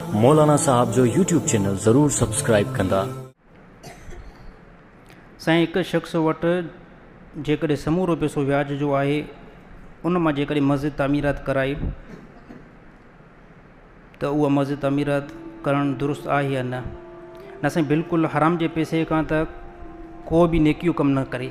مولانا صاحب جو YouTube channel ضرور سبسڪرائيب ڪندا. سائين هڪ شخص وٽ جيڪڏهن سمورو پيسو وياج جو آهي ان مان جيڪڏهن مسجد تعميرات ڪرائي ته اها مسجد تعميرات ڪرڻ درست آهي يا نه؟ نه سائين بلڪل حرام جي پيسي کان ته ڪو به نيڪيون ڪم نه ڪري.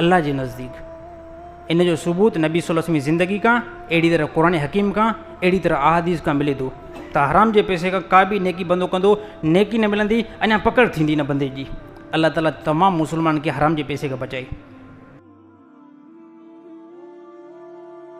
الله جي نزديڪ. ان جو ثبوت نبي صلي الله وسلم جي زندگي کان اهڙي طرح قرآن حڪيم کان اهڙي طرح احاديث کان ملي ٿو ته حرام جي پئسي کان ڪا به نيڪي بندو ڪندو نيڪي نه ملندي اڃا پڪڙ ٿيندي نه بندي جي الله تعالي تمام مسلمانن کي حرام جي پئسي کان بچائي.